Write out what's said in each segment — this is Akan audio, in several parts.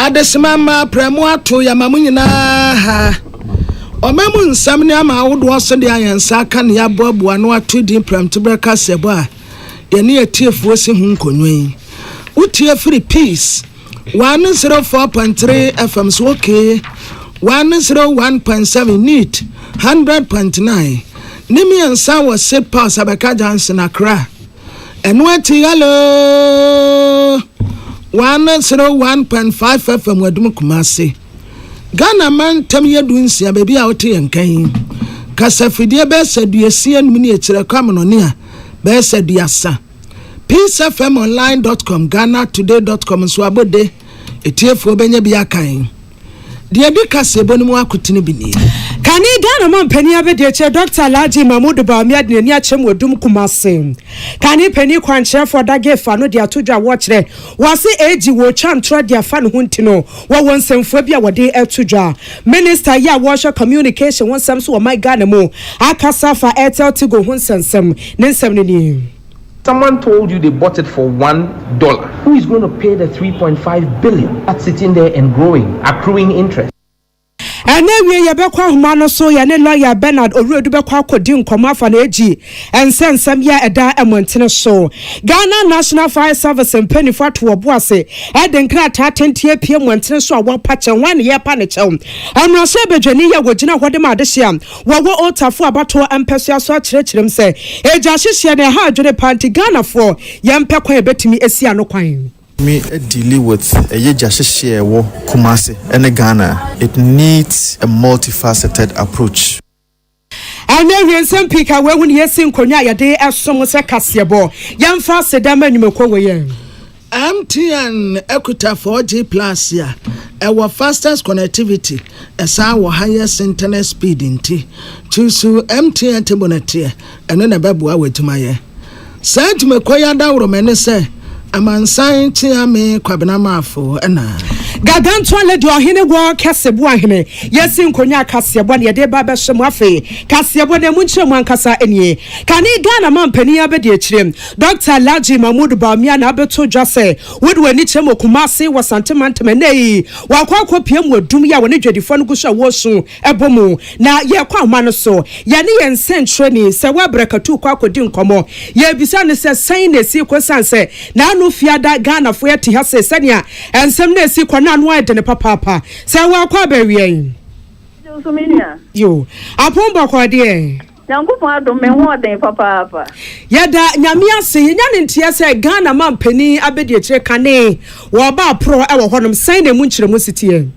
Adesima mma aprɛ mo ato yɛma mo nyinaa ha. Ɔma mu nsɛm ne ama ahodoɔ so de ayɛ nsa aka ne yɛaboaboa no ato din prɛmtoberɛ kaseɛbɔ a yɛne atiefoɔ si ho nkonnwa yi. Wotie firi Peace 104.3 FM so okay 101.7 NEET 100.9 ne mmiɛnsa wɔ Seed Pass Abɛka Junction Accra. Ɛno akyi Hello one zero one point five FM Adum Kumasi Ghana mantam yɛ du nsia baabi a wote yɛn nka yi kasafidie bɛyɛ sɛ duasia num ne akyire kɔ amonɔne a bɛyɛ sɛ duasa peacefmonline.com ghanatoday.com nso abɔde etiefoɔ bɛnya bi akan Deɛ ɛdi kaseɛbɔ no mu akotene bi nie. Kane Ghana manpanin abadiakyire Dɔkta Alhaji Mahmood Bawumia de n'ani akyerɛm wɔ dum Kumasi. Kane panin kwankyerɛfoɔ Adage Fa no de ato dwa wɔkyerɛ wɔse AG wɔretwa ntorɔ de afa ne ho nti no wɔwɔ nsɛmfua bi a wɔde to dwa. Minister yɛ a wɔrehwɛ communication ho nsɛm so wɔ man Ghana mu akasa afa Airtel Tigo ho nsɛnsɛm. Ne nsɛm no nie. Someone told you they bought it for one dollar. Who is going to pay the three point five billion that's sitting there and growing, accruing interest? Ɛnnɛ awiei yɛbɛkɔ ahoma no so, yɛne lɔya Bernard Owuredu bɛkɔ akɔdi nkɔmmɔ afa no agi nsɛnsɛm yi a ɛda mmɔntene so. Ghana National Fire Service mpanyinfoɔ ato wɔn bo ase de nkrataa tenten apue mmɔntene so a wɔpa kyɛ. Hwan na yɛrepa no kyɛw? Mmarahyɛbadwani yi a wɔgyina hɔ de ma adehye a Wɔwɔ Old Tafo abatoɔ mpɛsoa so akyerɛkyerɛm sɛ egya ahyehyeɛ na ɛha adwene paa nti Ghanafoɔ yɛmpɛ kwan a ɛbɛtumi asi ano kwan. Tumi adili with ɛyɛ gya hyehyeɛ a ɛwɔ Kumasi ɛne Ghana it needs a multi faceted approach. Ɛnyɛ hwee nsɛm pii ka wei ho na yɛsi nkonnwa a yɛde som sɛ kaseɛbɔ. Yɛmfa aseda mma nnwumakuo wei a. MTN kuta 4G Plus a ɛwɔ fastest connectivity, ɛsan wɔ highest internet speed nti, Kyusu MTN te bonɛteɛ, ɛno na ɛbɛboa w'adwumayɛ. Saa dwumakɔ yi adawroma ne sɛ Amansan Kyeame Kwabena Marfo na. Gargantua Lady Ɔhene Wɔ Kɛse Boa Hene Yɛsi Nkonyaa Kaseɛbɔ Na Yɛde Ba Bɛhyɛ Mu Afei Kaseɛbɔ No Ɛmu Nkyerɛmu Ankasa Nie Kane Ghana Mampanin Abɛdi Akyire Dɔkta Alhaji Mahmood Bawumia na abɛto dwa sɛ wode w'ani kyerɛ mu Kumasi wɔ Asante Mantam ɛnnɛ yi, wakɔ akɔpia mu wɔ dum yi a wɔne dwadifoɔ no gu so a wɔresu bɔ mu. Na yɛkɔ ahoma no so, yɛne yɛn nsɛnkyerɛni, Sawaa Brakatuu kɔ akɔdi nkɔmmɔ. Yɛrebisa no sɛ sɛn na ɛsii kɔ ɛsiane sɛ n'ano fiada, Ghanafoɔ yɛte ha sei, sɛnea nsɛm no ɛsii kɔ no ano ayɛ dene papaapa. Sawaa kɔ abɛweɛn. Yoo, apɔn bɔkɔɔ deɛ. Nyankopɔn adom me ho ɔden papaapa. Yɛda Nyame ase. Yɛnya ne nteɛ sɛ Ghana manpanin abɛdiakyire kane wɔ ɔba aporɔ wɔ hɔnom. Sɛn na ɛmu nkyerɛmu si teɛ?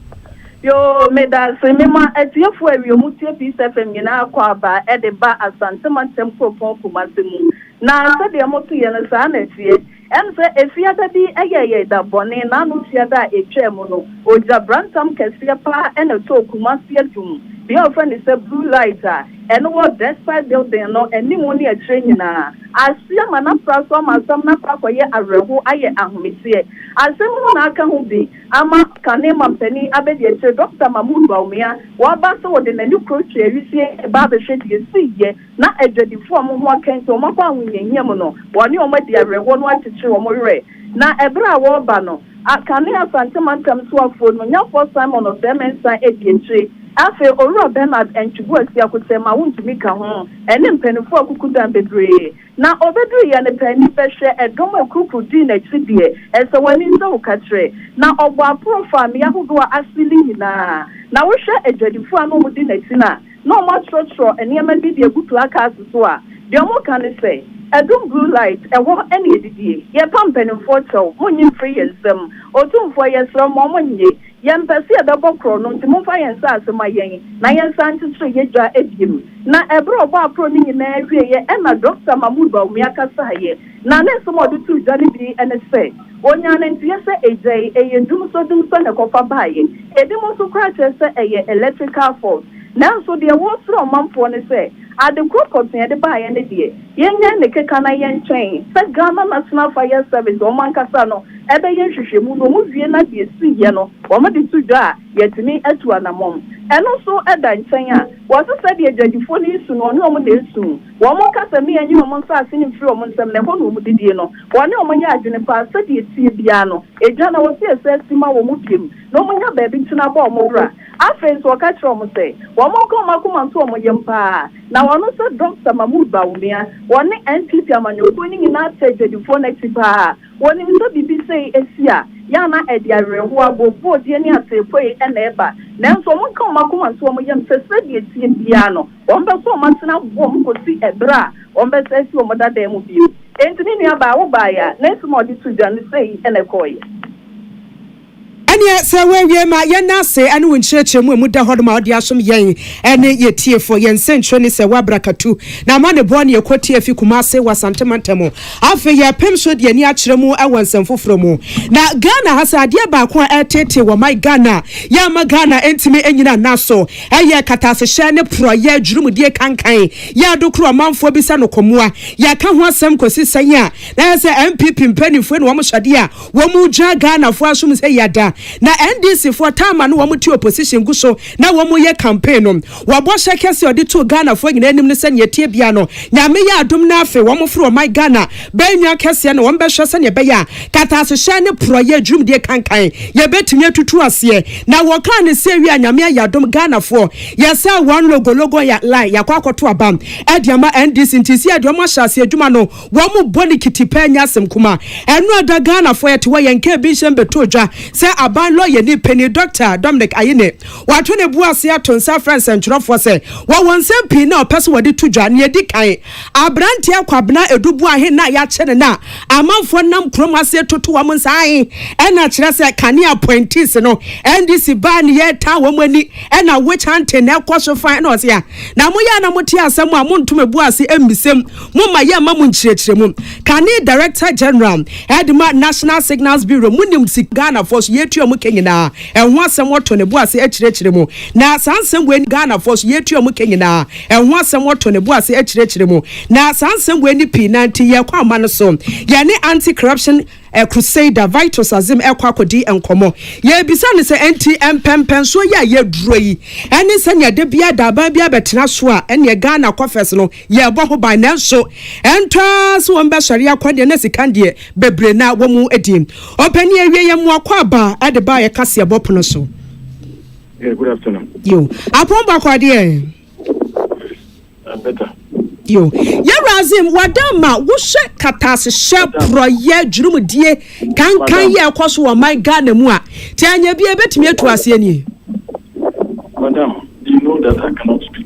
Yoo medase mema atiefo a wie ɔmo tie peace FM nyinaa kɔ aba de ba asante mantam kuropɔn kumase mu na sɛdeɛ moto yɛ no saa na ɛteɛ Ɛne sɛ, Efiada bi yɛɛ yɛn da bɔne, na ano tua da a etwaa mu no, ogya brantam kɛseɛ pa ara na ɛtɔɔ Kumasi adum, bea a wɔfrɛ no sɛ Blue Light a ɛno wɔ Despite Building no anim ne akyire nyinaa. Asia ma no afra so ama asɛm no akɔ akɔyɛ awerɛhow ayɛ ahometeɛ. Asɛm yi mu na aka ho bi ama kane mampanin abadiakyire Dɔkta Mahmoud Bawumia, waba sɛ ɔde n'ani koro twaa wisie baa bɛhwɛ deɛ esiiɛ. na adwadifoɔ a wɔn ho aka enti wɔakɔ ahohiahia mu no, wɔne wɔn adi awerɛhoɔ no akyekyere wɔn werɛ. Na ɛberɛ a wɔreba no, kane Asante mantam soafoɔ no, Nyafoɔ Simon Ɔsɛe-Mensah adi akyire. Afei Owura Bernard Antwibu Asiakokyɛm a wontumi ka ho, ɛne mpaninfoɔ akukudan bebree. Na ɔbɛduru yɛ no pɛ, ani bɛhwɛ, ɛdɔm a ɛkurukuru dii n'akyi deɛ, ɛsɛ w'ani nsɔ wo kakyerɛ. Na ɔbɔɔ aporɔ faa mmea ahodoɔ a ase no nyinaa. Na wohwɛ adwadifoɔ a na wɔdi n'akyi no a, na wɔakyerɛkyerɛw nneɛma bi de agu placards so a nea wɔka ne sɛ, Adum Blue Light, Ɛhɔ ne Adidie, Yɛpa Mpanimfoɔ Kyɛw, Monnye Mfiri Yɛn Nsam, Otumfoɔ, Yɛsrɛ Mo Ɔmo Nnye, Yɛmpɛ Sɛ Yɛbɛbɔ Korɔno Nti Momfa Yɛn Nsaase Ma Yɛn na Yɛnsan Nkyekyere Yɛn Dwa Abiem. Na bere a ɔbɔaporɔw no nyinaa wieeɛ na Dɔkta Mahmoud Bawumia kasaeɛ, Na ne nsɛm a ɔde too dwa no bi ne sɛ, Onyaa ne nteyɛ sɛ egya yi, ɛyɛ dumsɔdumsɔ na ɛkɔfa baeɛ. Ebinom nso koraa kyerɛ sɛ ɛyɛ electrical fault. Nanso deɛ wɔresrɛ ɔmanfoɔ ne sɛ, ade korɔ pɔtee a ɛde baeɛ no deɛ, yɛnnyae ne keka na yɛntwɛn sɛ Ghana National Fire Service wɔn ankasa no bɛyɛ nhwehwɛmu na wɔwie na deɛ ɛsiiɛ no wɔde to dwa a, yɛatumi atu anammɔn. Ɛno nso da nkyɛn a, wɔse sɛdeɛ dwadifoɔ no resu no, ɔne wɔn na ɛresu. Wɔka sɛ, Me anyi wɔn nsase no mfiri wɔn nsam, na ɛhɔ na wɔn didie no. Wɔne wɔn yɛ adwene paa, sɛdeɛ ɛteɛ biara no, egya na wɔsi ɛsɛ asi ma wɔn bio, na wɔnya baabi ntena bɔ wɔn bra. Afei nso, wɔka kyerɛ wɔn sɛ, wɔnka wɔn akoma nto wɔn yam paa, na wɔno sɛ Dɔkta Mahmoud Bawumia, wɔne NPP amanyɔkuo no nyinaa tɛ adwadifoɔ no akyi paa. Wɔnim sɛ biribi sei asi a, yɛ a na ɛde awerɛhoɔ, abooboodeɛ ne ateepuei na ɛba, nanso wɔnka wɔn akoma nto wɔn yam sɛ sɛdeɛ ɛteɛ biara no, Wɔbɛkɔ wɔn atena wom kosi bere a wɔbɛsan afi wɔn dadae mu bio. Enti me nuabaa, wobae a, na nsɛm a wɔde too dwa no sei na ɛkɔeɛ. Ɛnneɛ sɛ woawie ma yɛnna ase ne wo nkyerɛkyerɛ mu a emu da hɔ no ma ɔde asom yɛn ne yɛn tiefoɔ. Yɛn nsɛnkyerɛ ne sɛ woabrakatu na amanebɔ ne ɛkɔ tie afi Kumase wɔ Asante mantam. Afei yɛrepem nso de ani akyerɛ mu wɔ nsɛm foforɔ mu. Na Ghana ha sɛ adeɛ baako a ɛreteetee wɔ my Ghana yɛ ama Ghana ntumi nnyina nna so. Ɛyɛ katasehyɛ ne porɔeɛ adwirimudeɛ kankan, yɛ ado koro ɔmanfoɔ bi sɛ no kɔmoa. Yɛaka ho asɛm kɔsi sɛn a, na ayɛ sɛ NPP mpaninfoɔ ne wɔn hyɛdeɛ a wɔn regyaa Ghanafoɔ asom sɛ yɛ da. Na NDC foɔ taa ma no wɔn te opposition gu so na wɔn reyɛ campaign no. Wɔn bɔhyɛ kɛseɛ a wɔde too Ghanafoɔ nyinaa anim ne sɛ nea ɛteɛ biara no Nyame yɛ adom na afe wɔn foro ɔman Ghana Bɛyɛ nwi akɛseɛ na wɔbɛhwɛ sɛdeɛ ɛbɛyɛ a katasehyɛn ne porɔeɛ adwurum deɛ kankan yɛbɛtumi atutu aseɛ na wɔkaa no sɛ wie a Nyame ayɛ adom Ghanafoɔ yɛsɛɛ wɔn logo logo yɛ line yɛakɔ akɔto aba de ama NDC nti sɛ yɛde wɔn ahyɛ aseɛ adwuma no wɔn bɔ no kitipɛ nyɛ asɛm kuma ɛno ɛda Ghanafoɔ yɛte hɔ yɛn kaa bi nhyɛ mbɛtoo dwa sɛ aban lɔyɛni panin Doctor Dominic Ayine wato ne bo ase ato nsa afrɛ nsɛntwerɛfoɔ sɛ wɔwɔ nsɛm pii na ɔpɛ sɛ wɔde to dwa nea ɛdi kan Aberanteɛ Kwabena Adu Boahe no a yɛakyere no a amanfoɔ nam kurom ase retoto wɔn nsa ahe na kyerɛ sɛ kane appointees no NDC baa ne yɛ taa wɔn ani na witch hunting na ɛkɔ so fann na ɔse a na moyɛ a na mote asɛm a monto me bo ase mmisam mo ma yɛ mma mo nkyerɛkyerɛmu kane Director General ɛdema National Signals Bureau monim sika Ghanafoɔ so yɛtua mo ka nyinaa ɛho asɛm ɔto ne bo ase akyerɛkyerɛ mu na saa nsɛm wei Ghanafoɔ so yɛtua mo ka nyinaa Ɛho asɛm wɔtɔ ne bo ase akyerɛkyerɛ mu, na saa nsɛm wei ne pii na nti yɛn kɔ ama no so. Yɛne Anti Corruption Crusader Vitus Azim rekɔ akɔdi nkɔmmɔ. Yɛrebisa no sɛ ɛnti mpɛmpɛnsoɔ yi a yɛaduro yi ɛne sɛnea da biara da aban biara bɛtena so a ɛneɛ Ghana Coffers no yɛrebɔ ho ban nanso ɛntɔ ara sɛ wɔn bɛsɔre akɔ deɛ na sika deɛ bebree na wɔn di. Ɔpanin awie yɛn mmoa kɔ aba de ba yɛka seɛbɔ pono so. Yeah, good afternoon. Yo, apɔn bakɔ adeɛ. Better. Yo, yɛwurazim wadan ma wohyɛ katasehyɛ porɔyɛ dwurumudie kankan yɛ ɛkɔ so wɔ ɔman Ghana mu a te anyɛ bi ebetumi atu aseɛ nie. Madam, you know that I cannot speak.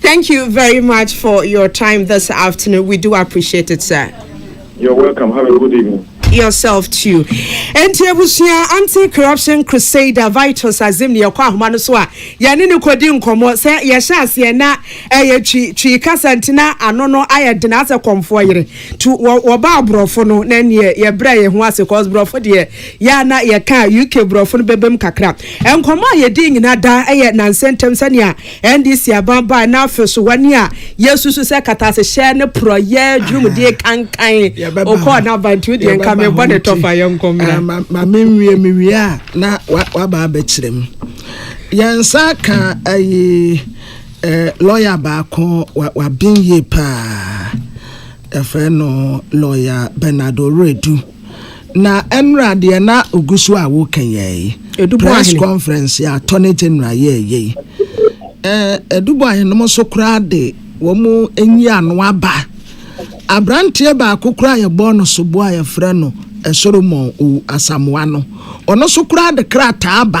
Thank you very much for your time this afternoon. We do appreciate it, sir. You're welcome. Have a good evening. Yourself too. Enti abusua anti-corruption crusader Vitus Azim ne yɛkɔ ahoma no so a yɛne ne kɔdi nkɔmmɔ sɛ yɛhyɛ aseɛ na ɛyɛ twi twi kasa nti na ano no ayɛ dena asɛ kɔmfoɔ yere to wɔba aborɔfo no na neɛ yɛbrɛ yɛ ho ase cause borɔfo deɛ Yɛ a na yɛka a, UK borɔfo no bɛbam kakra. Nkɔmmɔ a yɛdii nyinaa daa ɛyɛ nnansa ntam sɛnea NDC aban bae na afei nso wɔne a yɛsusu sɛ katasehyɛ ne porɔeɛ dwumudie kankan ɔkɔɔ n'aban nti wodeɛ nka mebɔ ne tɔfa yɛnkɔ mmra. Ma menwie mewie a na waba abɛkyerɛ mu. Yɛn nsa ka ayi lɔya baako waben yie paa. Yɛfrɛ no lɔya Bernard Oredu. Na ɛnora deɛ na oguso a woka yɛɛ yi, press conference a attorney general yɛɛ yɛ yi, Adubɔ ahenom so koraa de wɔn nyi ano aba. Abranteɛ baako koraa yɛbɔɔ no soboɔ a yɛfrɛ no Solomon Owu Asamoah no, ɔno so koraa de krataa aba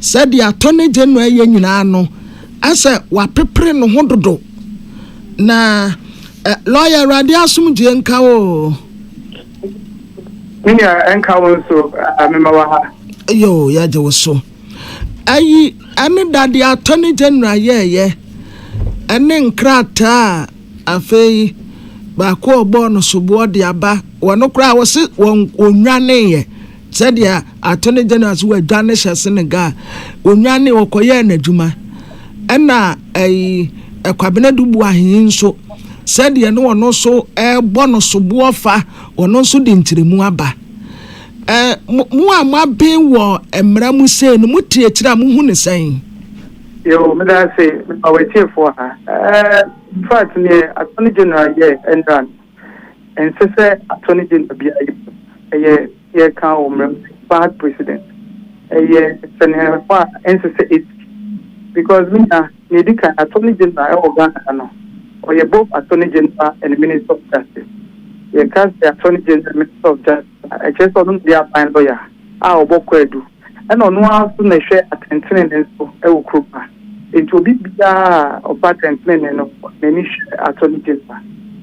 sɛ deɛ attorney general yɛ nyinaa no asɛ wapepere ne ho dodo. Na lawyer Awurade asomdwie nka oo. Me nua ɛnka wo nso mema wɔ ha. Yo yɛagye wo so. Ayi ɛne dade attorney general yɛɛyɛ ɛne nkrataa a afei baako a ɔbɔɔ no soboɔ de aba wɔn koraa wɔse wɔn wɔnwaneeɛ. Sɛdeɛ Attorney General nso wadwane hyɛ Senegal, ɔnwane ɔkɔyɛɛ n'adwuma. Ɛna ɛyi Kwabena Dubu Ahenyi nso, sɛdeɛ ne ɔno nso ɛrebɔ no soboɔ fa, ɔno nso de nkyerɛmu aba. Ɛ, mo, mo a moaben wɔ mmara mu sei no, mote akyire a mohu no sɛn? Yoo, meda ase ma w'atiefoɔ ha. Ɛɛ, in fact, neɛ Attorney General yɛɛ nnora no, Ɛnsɛ sɛ Attorney General biara yɛ mu, ɛyɛ yɛ kan wɔ mmerɛ mu sɛ Bad Precedent. Ɛyɛ sɛnɛɛfo a ɛnsɛ sɛ ɛsi. Because me nua, nea ɛdi kan, Attorney General ɛwɔ Ghana ha no, ɔyɛ both Attorney General and Minister of Justice. Yɛka sɛ Attorney General and Minister of Justice a, ɛkyerɛ sɛ ɔno na ɔyɛ aban lɔya a ɔbɔ kwaadu. ɛna ɔno ara nso na ɛhwɛ atɛntenenee nso wɔ kurom ha. Enti obi biara a ɔba atɛntenenee no, n'ani hwɛ Attorney General.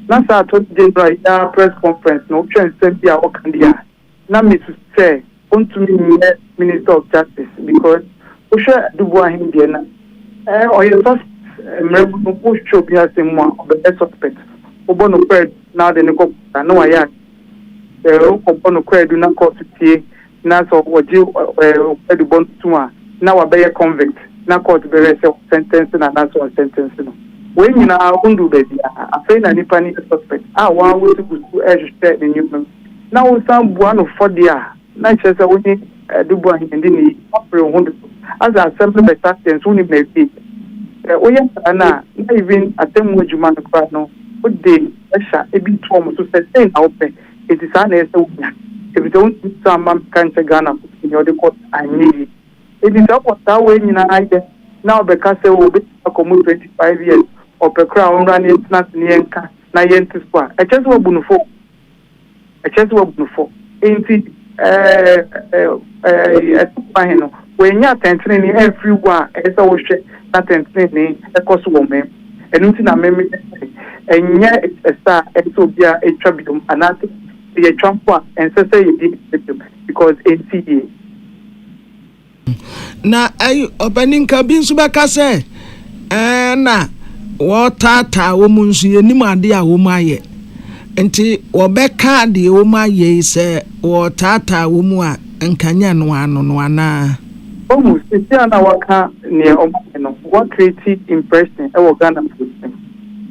Na saa Attorney General yi ara press conference no, wohwɛ nsɛm bi a ɔka bi a, na mesusu sɛ ɔntumi nyɛ Minister of Justice because wohwɛ Aduboah Ahen deɛ na ɔyɛ suspect. Mmerɛ mu no, wohwehwɛ obi asɛm mu a, ɔbɛyɛ suspect. Wobɔ no kwaadu na wode no kɔ court a, na wayɛ adeɛ. Sɛ wokɔbɔ no kwaadu na court tie na sɛ ɔgye ɔkwadiwbɔ no tom a, na wabɛyɛ convict, na kɔɔto bɛhwɛ sɛ wɔsɛntɛnse no anaasɛ wɔnsɛntɛnse no. Wei nyinaa wonduu baabiara. Afei na nipa no yɛ suspect a wɔn ara wɔsi gu so rehwehwɛ ne nneɛma mu. Na wosan bua no fɔ deɛ a, na kyerɛ sɛ wone Aduboah Ahiman di no yiye, woapere wo ho dodo. Asa asɛm no bɛsa deɛ nso wonim n'awiei. Sɛ woyɛ saa no a, na even atemmu adwuma no koraa no, wode pressure bi to wɔn so sɛ sei na wopɛ. Enti saa na ɛyɛ sɛ wonya, efisɛ wontumi nsan mma mmɛka nkyɛ Ghanafo sɛ nea ɔde kɔ anyɛ yiye. Enti sɛ ɔbɔ saa wei nyinaa yɛ na ɔbɛka sɛ oh obetumi akɔ mu 25 years, ɔpɛ koraa a ɔmmra na yɛntena ase na yɛnka na yɛnto so a, ɛkyerɛ sɛ wabu no fɔ o. Ɛkyerɛ sɛ wabu no fɔ. Enti Asubɔ Ahe no, wannya atɛntrenee amfiri wo a ɛyɛ sɛ wohwɛ na atɛntrenee kɔ so wɔ ɔman mu. Ɛno nti na me meyɛ sɛ ɛnyɛ ɛsɛ a ɛsɛ sɛ obiara ɛtwa biom anaasɛ sɛ yɛtwa mpo a ɛnsɛ sɛ yɛdi ɛsɛ biom because ɛnsi yie. Na ɛyi ɔpaninka bi nso bɛka sɛ ɛɛ na wɔretaataa wɔn nso yɛnim adeɛ a wɔn ayɛ nti wɔbɛka deɛ wɔn ayɛ yi sɛ wɔretaataa wɔn a nka nyɛ noa no no anaa. Wahu sisi a na waka neɛ ɔmo ayɛ no wa create impression wɔ Ghanafoɔ tirim.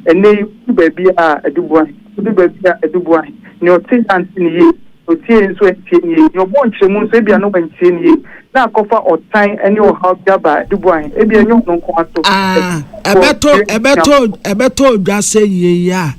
Ɛnɛ yi wodu baabi a Aduboa he, wodu baabi a Aduboa he, neɛ ɔte he ante no yie, neɛ otie he nso antie no yie, neɛ ɔbɔɔ nkyerɛmu nso ebia na wantie no yie, na akɔfa ɔtan ne ɔhaw bi aba Aduboa he, ebia nyɛ ɔno nko ara so, Aah, ɛbɛtɔ, ɛbɛtɔ, ɛbɛtɔ odwa sɛ yei a.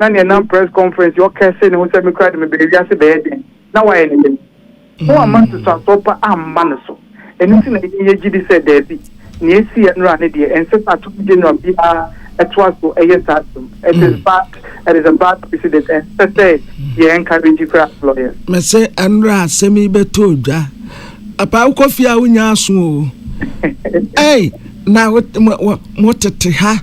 na nea ɛnam press conference yi ɔkɛse ne ho sɛ me koraa de mebɛyɛ wiase bɛyɛ dɛn? Na wayɛ ne dɛn? Na wamma ntotoasoɔ pa amma no so. Ɛno nti na yɛn yɛgye di sɛ daabi, nea ɛsiiɛ nnora no deɛ, ɛnsɛ sɛ atomgye nnora biara toa so yɛ saa biom. It is bad, it is a bad precedent. Ɛnsɛ sɛ yɛ encourage koraa as lawyers. Mese nnora asɛm yi bɛtɔ odwa. Papa wokɔ fie a wonya aso o. Ei, na mo tete ha.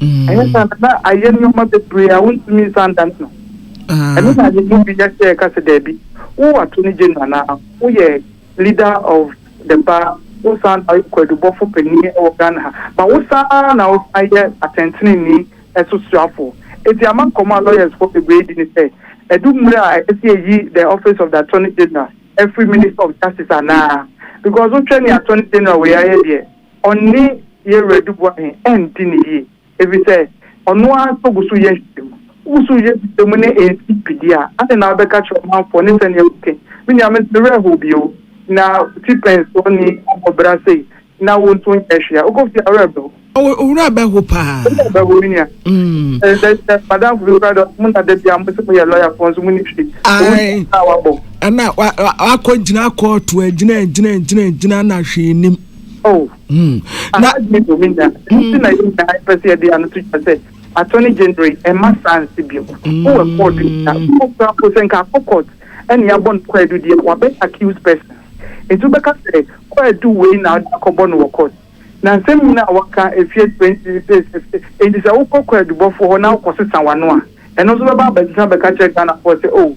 Ɛnyɛ saa na na ayɛ nneɛma bebree a wontumi nsan da no no. Ɛno na yɛn mu bi yɛ sɛ ɛka sɛ dabi, wo attorney general anaa woyɛ leader of the bar, wo san na woyɛ kwaadubɔfo panyin wɔ Ghana ha, ma wo san ara na wosan yɛ atɛntrenee so suafo. Enti ama nkɔmmɔ a lawyers-fo bebree di ne sɛ, adu mmere a ɛsɛ sɛ yɛyi the office of the attorney general afiri minister of justice anaa? Because wohwɛ nea attorney general wei ayɛ deɛ, ɔne Yeru adiboa he andi no yie, efisɛ ɔno ara nso gu so yɛ nhwehwɛmu. Wogu so yɛ nhwehwɛmu ne ensikyibidie a, adɛn na wobɛka kyerɛ ɔmanfoɔ ne sɛdeɛ wote? Me nua, mente wo werɛ how bio. Na wote pɛnsɔɔni akɔbra sei, na wonso nyɛɛ hwee a. Wokɔ fie a, wo werɛ bɛho. Wo werɛ bɛho paa. Wo werɛ bɛho, me nua. Sɛ, sɛ, sɛ madamfo bi koraa deɛ ɔse, Mona, da bi a mose moyɛ lɔyafoɔ nso monni hwee. Owu Ae, nti na wabɔ. ɛna wa, wa, wakɔgyina kɔɔto a, gyina, gyina, gyina, gyina na hwee nnim. Oh. Mm. Na adwene mu mi na. Nti na yɛ nyinaa yɛpɛ sɛ yɛde ano to dwa sɛ attorney general ɛma saa nsi bi mu. Wowɔ ɛkɔɔ do nyinaa. Wowɔ kura mpo sɛ nka akɔ court ɛne yɛabɔ no kwaadu deɛ wabɛ accused person. Nti wobɛka sɛ kwaadu wei na wode akɔbɔ no wɔ court. Na nsɛm nyinaa a waka ɛfie twenty nti sɛ wokɔ kwaadubɔfoɔ hɔ na wokɔ sesa wano a ɛno nso bɛba abɛsesa abɛka kyerɛ Ghanafoɔ sɛ oh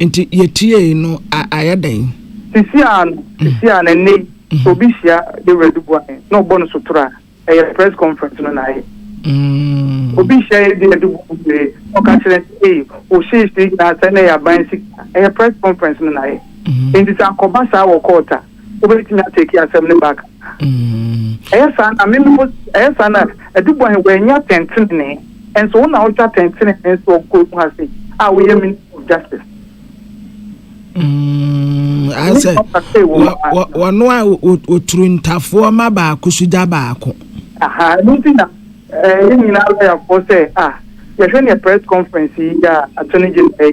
Nti yɛtiee no a ayɛ dɛn? Sisiaa no, sisiaa no, ɛnnɛ yi sɛ obi hyia Dawura Duboahe na ɔbɔ no sotorɔ a, ɛyɛ press conference no na ayɛ. Obi hyia Dawura Duboahe na ɔka kyerɛ no sɛ, ei, wo hyeehyee nyinaa sɛe na ɛyɛ aban sika a, ɛyɛ press conference no na ayɛ. Nti sɛ akɔba saa wɔ court a, wobɛtumi atake asɛm no back a? Ɛyɛ saa na meme wo, ɛyɛ saa na ɛde bɔn he wɔannya atɛntenenee, nso wo na wohwɛ atɛntenenee so wɔ kuro mu ha sei, a woyɛ Minister of Justice. Asɛ wɔno a wɔturu ntafoɔ ma baako so gya baako. Aha, ɛno nti na yɛn nyinaa lɔyafoɔ sɛ a yɛhwɛ neɛ press conference yi a attorney general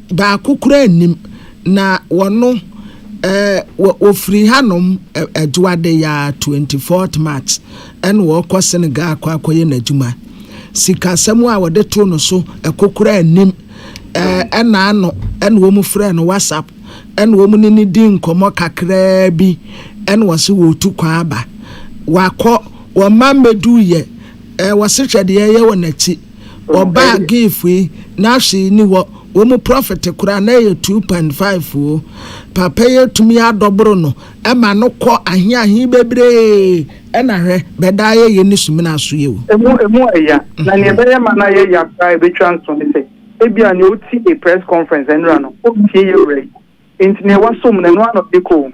Baako koraa nnim, na wɔno eh, wɔ, wɔfiri hanom eh, Adwoada yi ara 24th March ɛna wɔrekɔ Senegal akɔ akɔyɛ n'adwuma. Sikasɛm a wɔde too no so ɛko koraa nnim, eh, ɛna ano ɛna wɔn frɛɛ no WhatsApp ɛna wɔn ne no dii nkɔmmɔ kakraa bi ɛna wɔse wɔretu kwan aba. Wakɔ, wɔn mma mmɛduiɛ, eh, wɔse hwɛ deɛ ɛyɛ wɔ n'akyi. Wɔbaa Giif yi n'ahye yi ni hɔ, wɔ mu prɔfɛte korɔ a na ɛyɛ 2.5 oo, Papa yi atumi adɔboro no ma no kɔ ahe ahe bebree, ɛna hwɛ, bɛdaa yɛ yɛ ne sumina so yɛ o. Emu emu ɛya, na nea ɛbɛyɛ ma no ayɛ ya koraa a ɛbɛtwa nso ne sɛ, ebia nea ɔti a press conference nnora no, ɔntie yɛ wura yi. Enti nea wasom no, ɛno ara na ɔde kɔ o.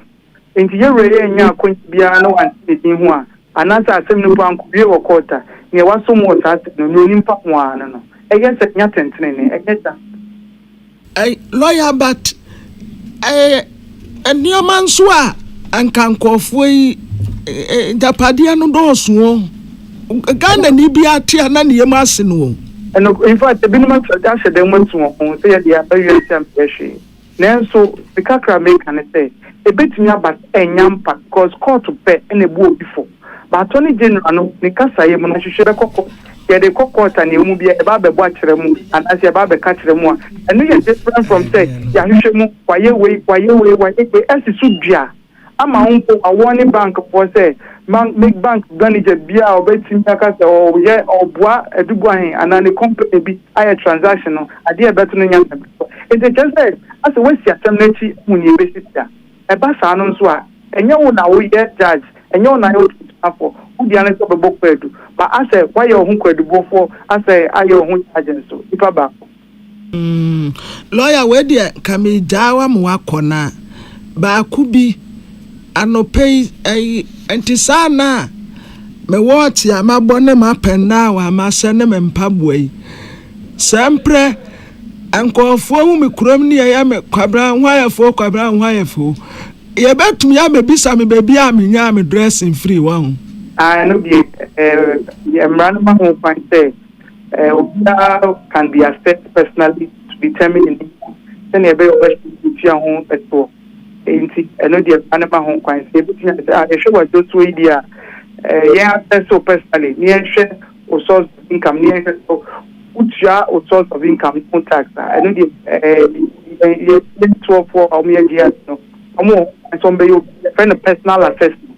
Enti yɛn wura yi annya akwanya biara na wante ne din ho a, anaasɛ asɛm no mpo ankowie wɔ kɔɔt a, nea wasom wɔ saa asɛm no, nea onim fa ho ara ne no. Ɛyɛ sɛ nya atɛntrenee, ɛnyɛ saa? Ɛ, lɔya Bart, ɛyɛ nneɛma nso a anka nkurɔfoɔ yi agyapadeɛ no dɔɔso o. Ghana ni bi a te a na ne yam ase no o. Ɛno in fact ebinom ahyɛ da mu atu wɔn ho sɛ yɛde aba wiase a menyɛ hwee nanso me kakra meka ne sɛ ebetumi aba sɛ ɛnya mpa because court pɛ na ebu obi fɔ but attorney general no ne kasaeɛ mu no ahwehwɛ bɛkɔ court yɛde kɔ court a nea emu bia yɛba abɛbɔ akyerɛ mu anaasɛ yɛba abɛka kyerɛ mu a ɛno yɛ different from sɛ yɛahwehwɛ mu wayɛ wei wayɛ wei wayɛ wei ɛsi so dua ama wo mpo awɔ ne bankfoɔ sɛ bank make bank manager biara a ɔbɛtumi aka sɛ ɔyɛ ɔboa aduguahen anaa ne company bi ayɛ transaction no adeɛ a ɛbɛto no nyɛ nsɛmfua enti ɛkyerɛ sɛ asɛ woasi asɛm no akyi ahu nea ɛbɛsi bia ɛba saa no nso a ɛnyɛ wo na woyɛ judge ɛnyɛ wo na woyɛ otumtumafoɔ wo dea ne sɛ wobɛbɔ kwaadu ma asɛ woayɛ wo ho kwaadubɔfoɔ asɛ ayɛ wo ho judge nso nipa baako. Mm lawyer wei deɛ nka me gyaa wa ma wakɔ na baako bi anɔpɛ yi ɛyi nti saa na me wɔɔkye a mabɔ ne ma pɛn na wa mahyɛ ne me mpaboa yi sɛ mprɛ nkɔɔfoɔ hu me kurom ne yɛyɛ me kwabra nhwayɛfoɔ kwabra nhwayɛfoɔ yɛbɛtumi abɛbisa me baabi a menyaa me dressing firi wɔ ho. Ah, ɛno deɛ, eh, mmara no ma ho kwan sɛ Eh, obiara can be assessed personally to determine ne nku sɛnea ɛbɛyɛ ɔbɛhyɛ ntua ho ɛtoɔ. Enti ɛno deɛ mmara no ma ho kwan sɛ yɛbɛtumi ayɛ sɛ, ah, yɛhwɛ w'adwosoɔ yi deɛ a, eh, yɛn assess wo personally ne yɛnhwɛ wo source of income ne yɛnhwɛ sɛ wotua wo source of income no ho tax a, ɛno deɛ eh, yɛn yɛn yɛn toɔfoɔ a wɔyɛ GS no wɔn wɔ ho kwan sɛ wɔbɛyɛ obi yɛfrɛ no personal assessment.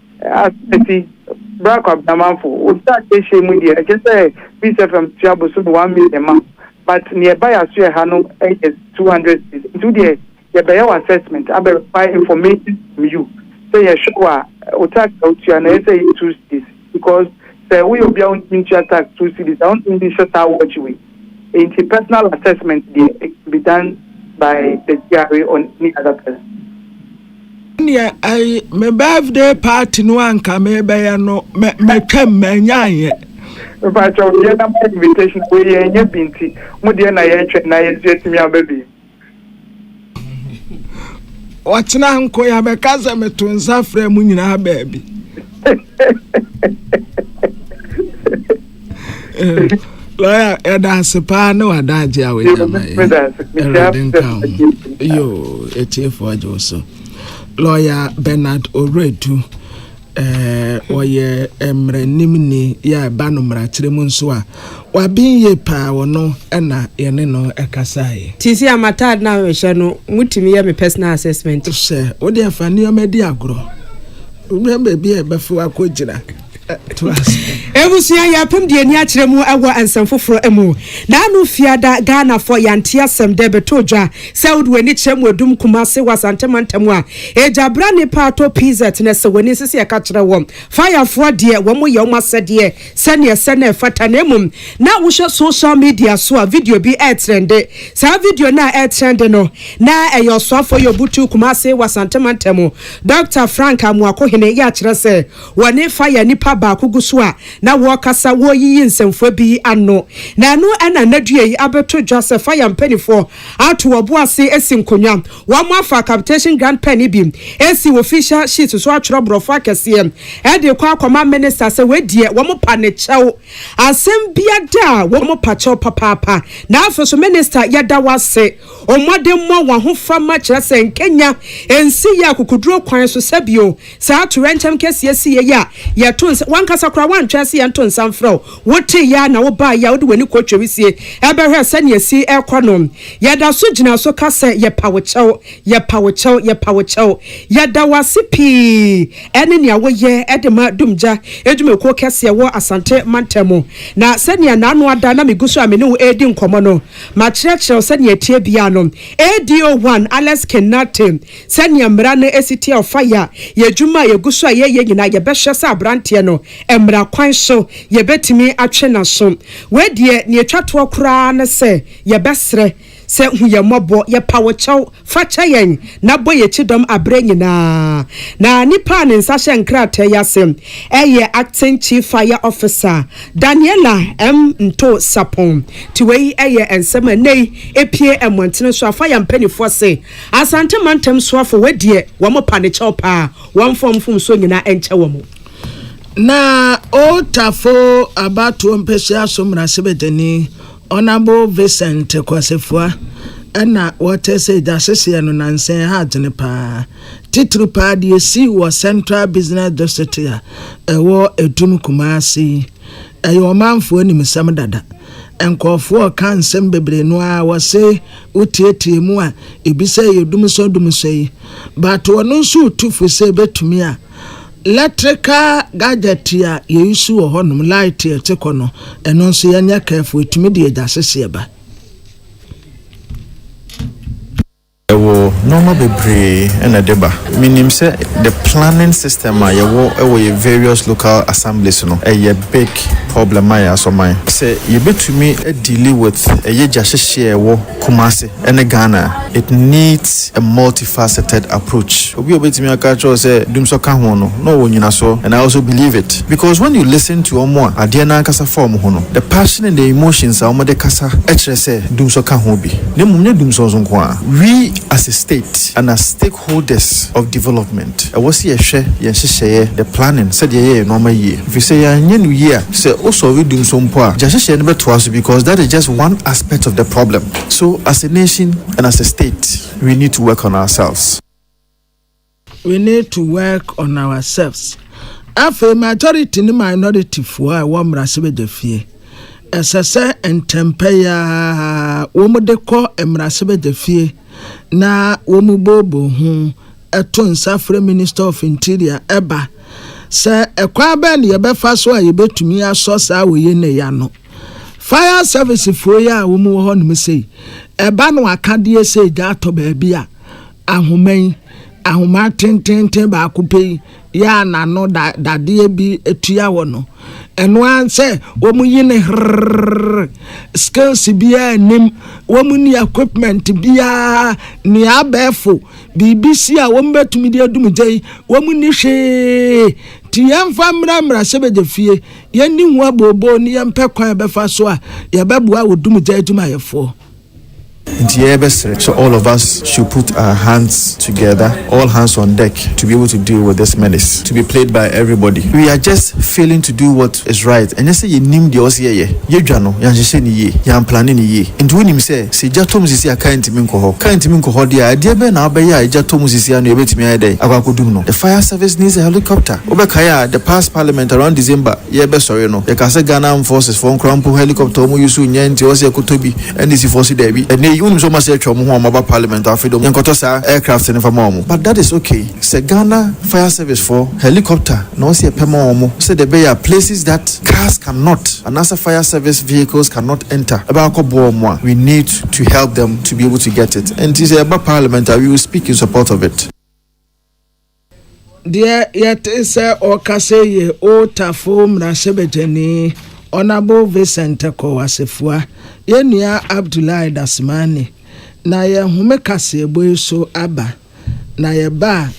Asɛti, Bra Kwabenamanfo, Obi a yɛahyia mu deɛ ɛkyɛ sɛ Peace FM tua bosome one million ma but neɛ ɛba yɛaso yɛ ha no yɛ two hundred cedis nti wo deɛ yɛbɛyɛ wo assessment abɛ require information from you sɛ yɛhwɛ wo a wo tax a wotua no ɛyɛ sɛ ɛyɛ two cedis because sɛ woyɛ obi a wontumi ntua tax two cedis a wontumi nhyɛ saa watch wei. Enti personal assessment deɛ, it can be done by the GRA or any other person. Ɛnneɛ ɛyi me birthday party no anka mebɛyɛ no mɛ mɛtwam mɛnyaayɛ. Mpakyɛw yɛ na mo invitation wei yɛn nyɛ bi nti mo deɛ na yɛtwɛn na yɛn nso yɛtumi aba bi. ɔkyena nko yɛ abɛka sɛ meto nsa frɛ mo nyinaa baabi lɔya ɛda ase paa ne wada agye a wɔgyama ɛwurade nka ho yo ɛtiefoɔ agye wo so lɔya bernard oredu Ɔyɛ mmaranimni yɛ ɛba no mmarakyerɛ mu nso a, waben yie paa, ɔno na yɛne no kasaeɛ. Nti sɛ m'ataade no a mehyɛ no, motumi yɛ me personal assessment? Hyɛ, wo deɛ fa nneɛma di agorɔ. Wobɛn baabi a ɛbɛfa wo akɔgyina. Toa so. Abusua, yɛapem deɛ ani akyerɛ mu wɔ nsɛm foforɔ mu. Naanu Fiada, Ghanafoɔ, yɛante asɛm dɛ bɛtɔ dwa sɛ wode w'ani kyerɛ Mmuadum, Kumasi wɔ Asante Mantam a, Agya bra ne paatɔ pz na sɛ w'ani nsese ɛka kyerɛ wɔ fire foɔ deɛ wɔn yɛ wɔn asɛdeɛ sɛdeɛ ɛsɛ na ɛfata na mmom na wohwɛ social media so a video bi ɛɛtrɛnde saa video no a ɛɛtrɛnde no na ɛyɛ ɔsoafoɔ yɛ obutuu kumase wɔ asante mantam Doctor Frank Amoakohene yɛ akyerɛ sɛ wɔne fire nipa baako gu so a na wɔɔkasa wɔɔyiyi nsɛmfua bi ano na ɛno ɛna nnadua yi abɛto dwa sɛ fire mpanifoɔ ato wɔbo ase asi nkonwa Wɔafa capitation grant pɛ no bi asi official sheet so atwerɛ borɔfo akɛseɛ de rekɔ akɔma minister sɛ wei deɛ wɔpa ne kyɛw. Asɛm biada a wɔpa kyɛw papaapa na afei nso minister yɛda wo ase o mmɔdemmɔ wahofama kyerɛ sɛ nkanya nsi yɛ akokoduro kwan so sɛbio Saa atoyerɛnkyɛm kɛseɛ siiɛ yi a yɛto nsa, w'ankasa koraa woantwɛn sɛ yɛnto nsa mfrɛ wo, woteeɛ ara na wobaeɛ a wode w'ani kɔtwaa wisie bɛhwɛɛ sɛdeɛ ɛsi rekɔ no. Yɛda so gyina so ka sɛ yɛpa wo kyɛw, yɛpa wo kyɛw, yɛpa wo kyɛw. Yɛda wo ase pii ne nea woyɛ de ma Dumgya adwumakuo kɛseɛ wɔ Asante mantam mu. Na sɛdeɛ n'ano ada na megu so a me ne wo redi nkɔmmɔ no, makyerɛkyerɛ wo sɛdeɛ ɛteɛ biara no, ADO-1 Alex King Nartey, Sɛnea mmara no si teɛ a ɔfa yɛ a yɛn adwuma a yɛgu so a yɛyɛ nyinaa yɛbɛhyɛ sɛ aberanteɛ no mmara kwan so yɛbɛtumi atwe n'aso. Wei deɛ nea ɛtwa toɔ koraa ne sɛ yɛbɛsrɛ sɛ hu yɛn mmɔbɔ, yɛpa wo kyɛw, fa kyɛ yɛn na bɔ yɛn kyidɔm aberɛ nyinaa. Na nipa a ne nsa hyɛ nkrataa yi ase yɛ Acting Chief Fire Officer Daniella M. Ntooh Sapong. Nti wei yɛ nsɛm a ɛnnɛ yi ɛpue mmɔntene so a fire mpaninfoɔ se Asante mantam soafo wɔ deɛ wɔn pa ne kyɛw paa wɔn mfa wɔn mfomsoɔ nyinaa nkyɛ wɔn. Na Old Tafo abatoɔ mpɛhyia so mmarahyɛbadwani Honourable Vincent Kwasefua na wɔte sɛ gya hyehyeɛ no nansa yi ha adwene paa titiri paa deɛ ɛsii wɔ Central Business District a ɛwɔ Adum Kumasi Ɛyɛ ɔmanfoɔ animsɛm dada. Nkorɔfoɔ ka nsɛm bebree no aa wɔse wo teetee mu a ebi sɛ ɛyɛ dumsɔ dumsɔ yi but ɔno nso ɔtu fo sɛ ɛbɛtumi a letrical gadget a yɛ use wɔ hɔ nom light a ɛte kɔ no ɛno nso yɛ nyɛ careful ɛtumi de agya seseɛ ba. Yɛwɔ nnoɔma bebree na ɛde ba. Menim sɛ the planning system a yɛwɔ wɔ yɛ various local assemblies no, ɛyɛ big problem ma yɛ asɔman. Sɛ yɛbɛtumi adeali with ɛyɛ gyahyehyeɛ a ɛwɔ Kumasi ne Ghana a, it needs a multifaceted approach. Obi a ɔbɛtumi aka akyerɛ wo sɛ Dumsor ka ho no, na ɔwɔ nnyinasoɔ and I also believe it because when you listen to wɔn a adeɛ no ankasa fa wɔn ho no, the passion and the emotions a wɔde kasa kyerɛ sɛ Dumsor ka ho bi. na mmom nyɛ dumsɔɔ so nko a, we as a state and as stakeholders of development ɛwɔ sɛ yɛhwɛ yɛn nhyehyɛeɛ, the planning, sɛdeɛ yɛyɛ yɛn nnoɔma yie. Ɛfiri sɛ yɛanyɛ no yie a, sɛ wo sɔɔve dumsɔɔ mpo a, gya hyehyɛeɛ no bɛtoa so because that is just one aspect of the problem. So as a nation and as a state, we need to work on ourselves. We need to work on ourselves Afei majority ne minority foɔ a ɛwɔ mmarahyɛbadwafie ɛsɛ sɛ ntɛmpɛ yi ara wɔn de kɔ mmarahyɛbadwafie na wɔn boobo ho ɛto nsa frɛ minister of interior ɛba sɛ ɛkwan bɛn na yɛbɛfa so a yɛbɛtumi asɔ saa wɔ yɛn na yɛano fire service foɔ yi a wɔn wɔ hɔ nom sei ɛba no akadeɛ sɛ gya atɔ baabi a ahoma yi, ahoma tenteenten baako pɛ yi yɛ a n'ano da dadeɛ bi tua hɔ no, ɛno ara sɛ wɔyi ne herrrr, skills biara nnim, wɔnni equipment biara, nea abɛɛfo, biribi si a wɔbɛtumi de adum gya yi, wɔnni hwee. Nti yɛmfa mmra mmarahyɛbadwa fie, yɛnni ho abooboo ne yɛmpɛ kwan a yɛbɛfa so a yɛbɛboa wo dumgya adwumayɛfoɔ. Nti yɛ bɛ srɛ sɛ all of us should put our hands together all hands on deck to be able to deal with this menace to be played by everybody we are just failing to do what is right ɛnyɛ sɛ yɛ nim deɛ ɔsɛ yɛ yɛ yɛ dwa no yɛ anhyehyɛ ne yie yɛ anplane ne yie nti wo nim sɛ sɛ gya tɔ mu sisi a car ntimi nkɔ hɔ car ntimi nkɔ hɔ deɛ a ɛdeɛ bɛn na abɛyɛ a gya tɔ mu sisi ano yɛ bɛtumi ayɛ dɛn akɔ akɔ dum no the fire service needs a helicopter wo bɛ kae a the past parliament around December yɛ bɛ sɔre no yɛ ka sɛ Ghana armed forces fɔ nkora mpo helicopter ɔmo use nyɛ nti ɔwɔ sɛ yɛ kɔ tɔ bi NDC foɔ se daabi ɛnɛ yi wonim sɛ ɔmo asɛ atwa ɔmo ho a ɔmo aba parliament afe dom yɛ nkɔ tɔ saa aircraft no nfa ma ɔmo but that is okay sɛ Ghana fire service foɔ helicopter na ɔwɔ sɛ yɛ pɛ ma ɔmo sɛ dɛ ɛbɛyɛ a places that cars can not anaa sɛ fire service vehicles can not enter ɛbɛ akɔ boa ɔmo a we need to help them to be able to get it nti sɛ yɛ ba parliament a we will speak in support of it. Deɛ yɛte sɛ ɔreka sei yɛ Old Tafo mmarahyɛbadwani Honourable Vincent Tekow Asafua, yɛn nua Abdullahi Dasemani, na yɛn home kaseɛbɔ yi so aba, na yɛba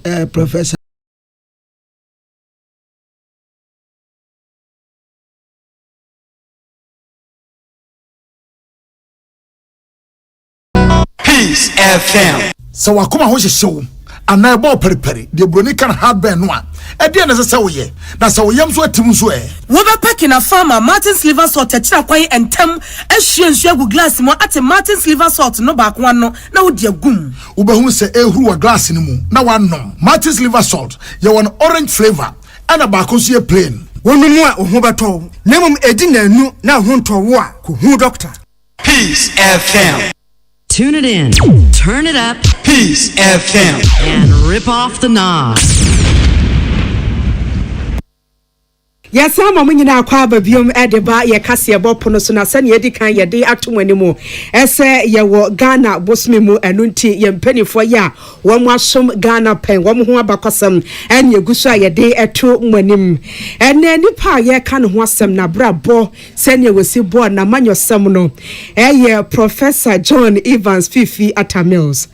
a, eh, Professor. Peace FM. Sɛ w'akoma ho hyehye wo anaa ɛbɔ ɔparipari, deɛ buroni ka no heartburn no a, ɛdeɛ na ɛsɛ sɛ woyɛ? Na sɛ wo yam nso atim nso ɛ? Wobɛpɛ Kena Farmer Martin's Liver Salt akyiri kwan ntɛm, ahwie nsuo agu glass mu, ate Martin's Liver Salt no baako ano, na wode agum. Wobɛhunu sɛ ɛrehuru wɔ glass no mu na woanom. Martin's Liver Salt, yɛwɔ no orange flavour, ɛna baako nso yɛ plain. Wonom a wo ho bɛtɔ wo, na mmom ɛdi nnanu na wo ho ntɔ wo a, kɔhu dɔkta. Peace FM. Tune it in, turn it up. Peace FM. And rip off the knob. yɛsan ma mo nyinaa kɔ aba biom de ba yɛ kaseɛ bɔ pono so na sɛnea ɛdi kan yɛde ato mo anim ɛsɛ yɛwɔ ghana bosome mu ɛno nti yɛn mpanimfoɔ yɛ a wɔn asom ghana pɛn wɔn ho abakɔsɛm ɛne egu so a yɛde ɛto mo anim ɛnna nipa a yɛka ne ho asɛm na abrabɔ Sɛnea wɔsi bɔɔ n'amanyɔsɛm no, ɛyɛ Professor John Evans Fifi Atta Mills.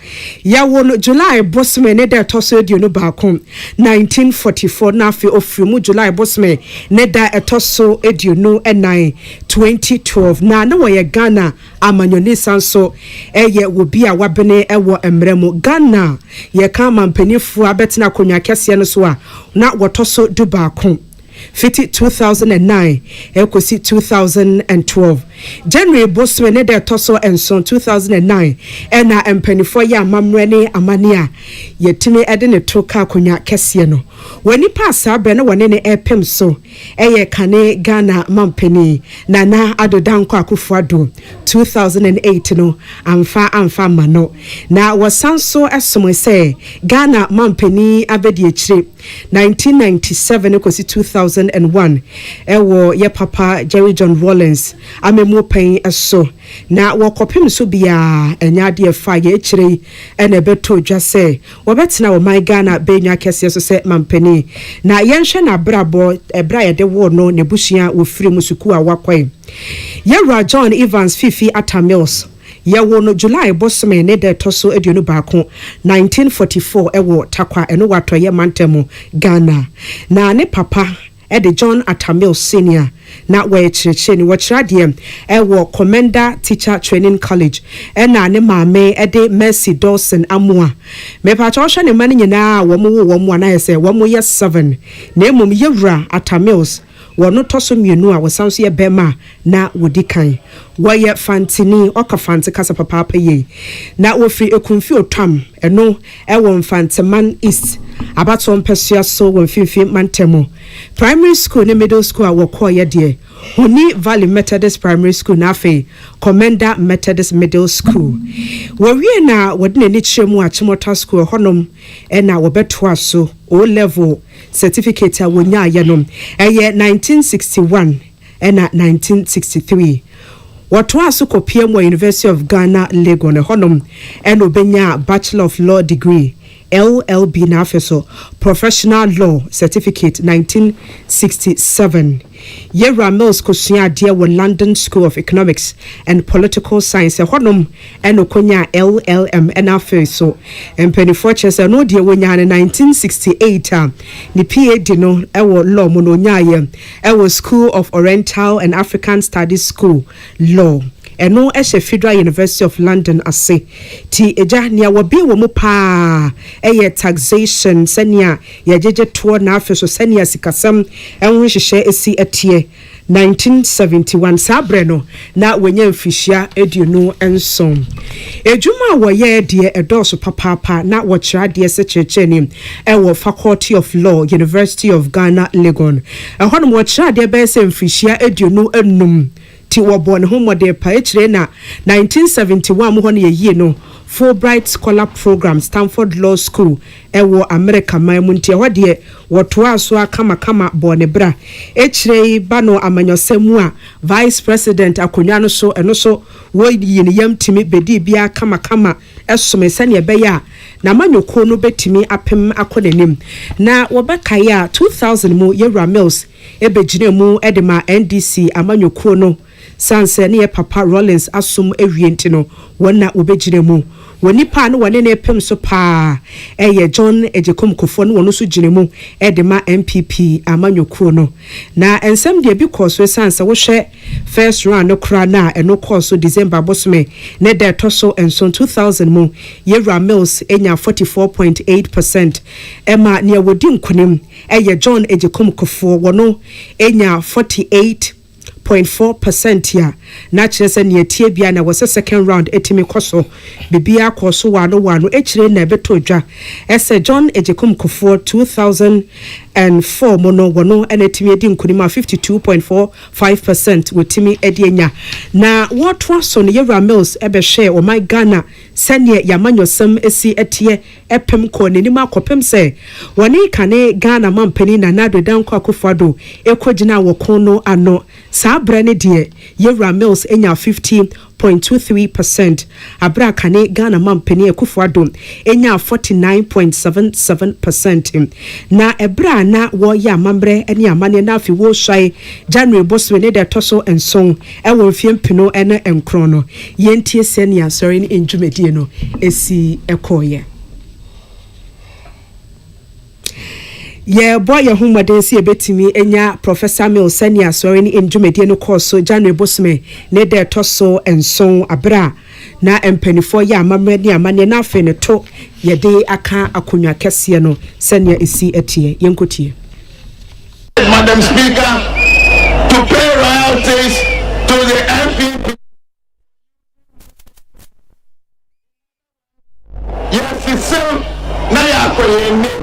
Yɛwo no July bosome ne da ɛtɔ so aduonu baako, 1944, na afei ɔfiri mu July bosome ne da ɛtɔ so aduonu nan, 2012. Na na ɔyɛ Ghana amanyɔni san so yɛ obi a wabene wɔ mmara mu. Ghana a yɛka amanpanifoɔ a abɛtena akonnwa kɛseɛ no so a na wɔtɔ so dubaako. Fiti two thousand and nine ɛrekɔsi two thousand and twelve, January bosome ne da ɛtɔ so nson, two thousand and nine, ɛna mpaninfoɔ yɛ amammerɛ ne amanneɛ a yɛtumi de no to ka akonnwa kɛseɛ no wɔ nnipa a saa berɛ no wɔne no repem so ɛyɛ kane Ghana mampanin Nana Addo Dankwa Akuffo Addo two thousand and eight no amfa amfa amma no na wɔsan so somoe sɛ Ghana mampanin abɛdiakyire Nineteen ninety seven kɔsi two thousand and one wɔ yɛ papa Jerry John Rawlings amammuo pɛn so na wɔ kɔpem so biara ɛnyɛ adeɛ ɛfa yɛ akyire yi na ɛbɛtɔ dwa sɛ wɔbɛtena ɔman Ghana bɛnwa kɛseɛ so sɛ mampanin na yɛnhwɛ n'abrabɔ ɛberɛ a yɛde woo no n'abusua wɔfiri mu sukuu a wakɔe yɛwura John Evans Fifi Atta Mills Yɛwoo no July bosome ne da ɛtɔ so aduonu baako, 1944 wɔ Tarkwa, ɛno wɔ Atɔeɛ Mantam mu, Ghana. Na ne papa de John Atta Mills Senior, na wɔyɛ kyerɛkyerɛni. Wɔkyerɛ adeɛ wɔ Commenda Teacher Training College. Ɛna ne maame de Mercy Dawson Amoah. Mepakyɛ wohwɛ ne mma no nyinaa a wɔn woo wɔn a na ayɛ sɛ wɔn yɛ seven. Na mmom Yɛwura Atta Mills Wɔn no tɔ so mmienu a wɔsan nso yɛ bɛrima a na wɔdi kan. Wɔyɛ Fantini, ɔka Fante kasa papaapa yie. Na wɔfiri Ekumfi Otam, ɛno ɛwɔ Mfanteman East abatoɔ mpɛsoa so wɔ Mfimfini Mantamu. Primary school ne middle school a wɔkɔeɛ deɛ, Honi Valley Methodist Primary School na afei Commenda Methodist Middle School. Wɔwie no a wɔde n'ani kyerɛ mu Achimota School, ɛhɔnom na wɔbɛtoaa so O-Level. Certificate a wɔnyaeɛ no, ɛyɛ nineteen sixty one ɛna nineteen sixty three. Wɔtoaa so kɔpiam wɔ University of Ghana, Legon, ɛhɔnom na ɔbɛnyaa Bachelor of Law degree, LLB, na afei nso Professional Law Certificate, nineteen sixty seven. Yɛwura Mills kɔsuaa adeɛ wɔ London School of Economics and Political Science, ɛhɔnom ɛna ɔkɔnyaa LLM ɛna afei so mpaninfoɔ kyerɛ sɛ ɔno deɛ ɔnyaa no 1968 a ne PAD no ɛwɔ Law mu no ɔnyaaeɛ ɛwɔ School of Oriental and African Studies School Law ɛno ɛhyɛ Federal University of London ase ti agya nea wɔbee wɔ mu paa ɛyɛ Taxation sɛnea yɛgyegye toɔ na afei so sɛnea sikasɛm ɛho nhyehyɛ ɛsi ɛteɛ 1971, saa berɛ no na wanya mfirihyia aduonu nson. Adwuma a wɔyɛɛ deɛ ɛdɔɔso papaapa, na wɔkyerɛ adeɛ sɛ kyerɛkyerɛni wɔ Faculty of Law, University of Ghana, Legon. Ɛhɔ nom ɔkyerɛ adeɛ bɛyɛ sɛ mfirihyia aduonu nnum, nti wɔbɔɔ ne ho mmɔden pa. Akyire na 1971 mu hɔ no yɛyii no Fulbright Scholar Program, Stanford Law School, wɔ Amerika man mu nti ɛhɔ deɛ wɔtoaa so ara kamakama bɔɔ ne bra. Akyire yi ba no amanyɔsɛm mu a Vice President akonnwa no so ɛno nso wɔyii ne yam tumi bɛdii bi ara kamakama somee sɛdeɛ ɛbɛyɛ a n'amanyɔkuo no bɛtumi apem akɔ n'anim. Na wɔbɛkae a 2000 mu Yawura Mills bɛgyinaa mu de maa NDC amanyɔkuo no Esiane sɛ ne yɛ papa Rawlings asom awie nti no, wɔn na wɔbɛgyina mu. Wɔn nipa a na wɔne no repem so pa ara yɛ John Agyekom Kufour na ɔno nso gyina mu de ma NPP amanyɔkuo no. Na nsɛm deɛ bi kɔɔ so esiane sɛ wohwɛ first round no koraa no a, ɛno kɔɔ so December bosome ne da a ɛtɔ so nson, 2000 mu. Yawura Mills nyaa 44 point eight percent ɛma nea wɔdi nkunim yɛ John Agyekom Kufour, wɔn nyaa 48. Point four percent a na kyerɛ sɛ nea ɛteɛ biara na ɛwɔ sɛ second round tumi kɔ so. Biribiara kɔɔ so waano waano akyire na ɛbɛtɔɔ dwa sɛ John Agyekum Kufuor two thousand and four mu no wɔno na atumi adi nkunim a fifty two point four five percent wɔtumi de anya. Na wɔtoa so no Yewura Mills bɛhwɛɛ ɔman Ghana sɛdeɛ yɛn amanyɔsɛm si teɛ pem kɔɔ n'anim ara kɔpem sɛ wɔne kane Ghana mampanin Nana Addo Dankwa Akufo-Addo kɔgyinaa wɔ ko no ano. Saa berɛ no deɛ, Yawura Mills nyaa fifty point two three per cent aberɛ a kane Ghana mampanin Akufo-Addo nyaa forty nine point seven seven per cent. Na ɛberɛ a na wɔreyɛ amammerɛ ne amanneɛ no afe Wosuae January bosome no da ɛtɔ so nson, Wɔ mfeɛ mpenu ne nkron no, yɛntie sɛnea Asɔre no ndwumadie no si kɔeɛ. Yɛrebɔ yɛn ho mmɔden sɛ yɛbɛtumi anya Professor Mills sɛnea Asɔre no ndwumadie no kɔɔ so January bosome ne da ɛtɔ so nson berɛ a na mpaninfoɔ yɛ amammerɛ ne amanneɛ na afei no to yɛde aka akonnwa kɛseɛ no sɛnea ɛsi teɛ. Yɛnkɔtie. Madam Speaker, to pay royalties to the NPP. Yɛsesem na yɛakɔ yɛn anim.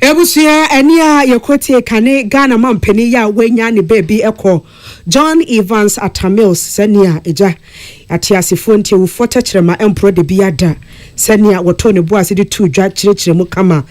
Abusua ani a yɛkɔtiee ka ne Ghana mampanin yi a wanya ne baabi kɔ, John Evans Atta Mills, sɛnea agya ateasefoɔ nti awufoɔ tɛkyerɛma mporɔ da bi ara da, sɛnea wɔtoo ne bo ase de too dwa kyerɛkyerɛ mu kama.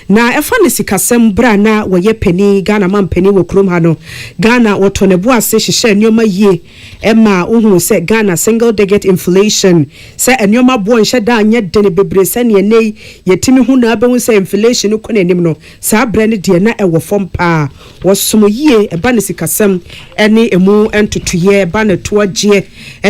Na ɛfa ne sikasɛm, berɛ a na wɔyɛ panin, Ghana mampanin wɔ kurom ha no, Ghana wɔtoo ne bo ase hyehyɛɛ nneɛma yie, ɛmaa wohuu sɛ Ghana single digit inflation, sɛ nneɛma boɔ nhyɛ da nyɛ den bebree sɛdeɛ ɛnnɛ yi yɛtumi hu na abɛhu sɛ inflation no kɔ n'anim no, saa berɛ no deɛ na ɛwɔ fam pa ara. Wɔsom yie, ɛba no sikasɛm ne ɛmu ntotoeɛ, ɛba no toagyeɛ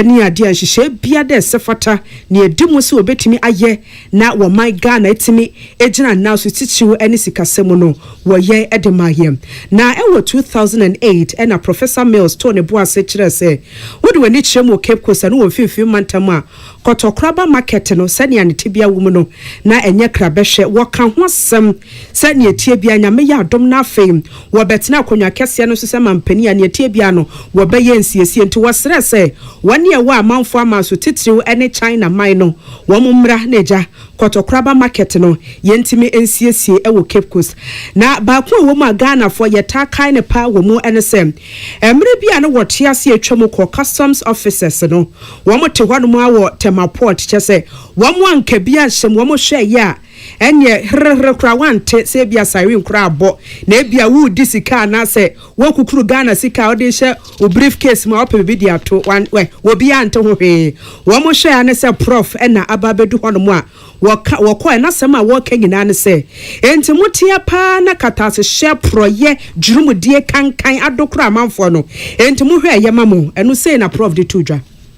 ne adeɛ a nhyehyɛeɛ biara dɛ ɛsɛ fata na ɛdi mu sɛ wɔbɛtumi ayɛ na wɔman Ghana atumi agyina nna so titiriw ne sikasɛm mu no, wɔyɛ de ma yɛn. Na ɛwɔ two thousand and eight na Professor Mills too ne bo ase kyerɛɛ sɛ wode w'ani kyerɛ mu wɔ Cape Coast ne wɔ Mfimfini Mantam a, Kɔtɔkoraba Market no sɛnea ne tebea wom no, na ɛnyɛ krabɛhwɛ. Wɔka ho asɛm sɛ nea ɛteɛ biara Nyame yɛ adom na afei wɔbɛtena akonnwa kɛseɛ no so sɛ manpanin a, nea ɛteɛ biara no wɔbɛyɛ nsiesie. Nti wɔsrɛɛ sɛ wɔne ɛwɔ a amanfoɔ aman so titiriw ne China man no Wɔn mmra na agya Kɔtɔkoraba market no yɛntumi nsiesie wɔ Cape Coast. Na baako a ɛwɔ mu a Ghanafoɔ yɛtaa kae no paa wɔ mu ne sɛ, mmerɛ bi a na wɔte ase atwa mu kɔ Customs officers no, wɔte hɔnom ara wɔ Tema port kyerɛ sɛ wɔn anka bi anhyɛ mu, wɔhwɛeɛ a, Ɛnneɛ, herɛherɛ koraa woante sɛ ebia siren koraa abɔ, na ebia woredi sika anaasɛ woakukuru Ghana sika a wode rehyɛ wo briefcase mu a wopɛ biribi de ato. Wan, wɛ, obiara nte ho hwee. Wɔhwɛ ara ne sɛ Prof. na aba abɛdu hɔnom a, wɔka, wɔkɔe, na asɛm a wɔreka nyinaa ne sɛ, Enti moteɛ paa na katasehyɛ, porɔeɛ, gyeremdie, kankan adokora amanfoɔ no? Enti mohwɛ a ɛyɛ ma mo? Ɛno sei na Prof. de too dwa.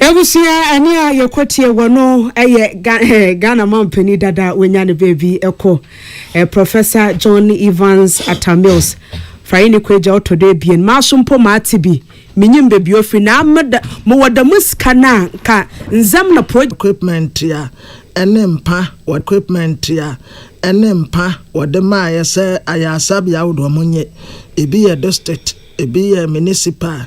Abusua ani a yɛkɔ tie wɔ no yɛ Ghana mampanin dada a wanya ne baabi kɔ, Professor John Evans Atta Mills. Faye ne Kwagya ɔtɔ do abien. Maaso mpo maate bi. Menyim baabi ofiri na mowɔ dɛm sika no a, nka ndzɛm na pro. Equipment a ɛne mpa wɔ. Equipment a ɛne mpa wɔde maaeɛ sɛ ayaresabea ahodoɔ wɔnyɛ. Ebi yɛ district, ebi yɛ municipal.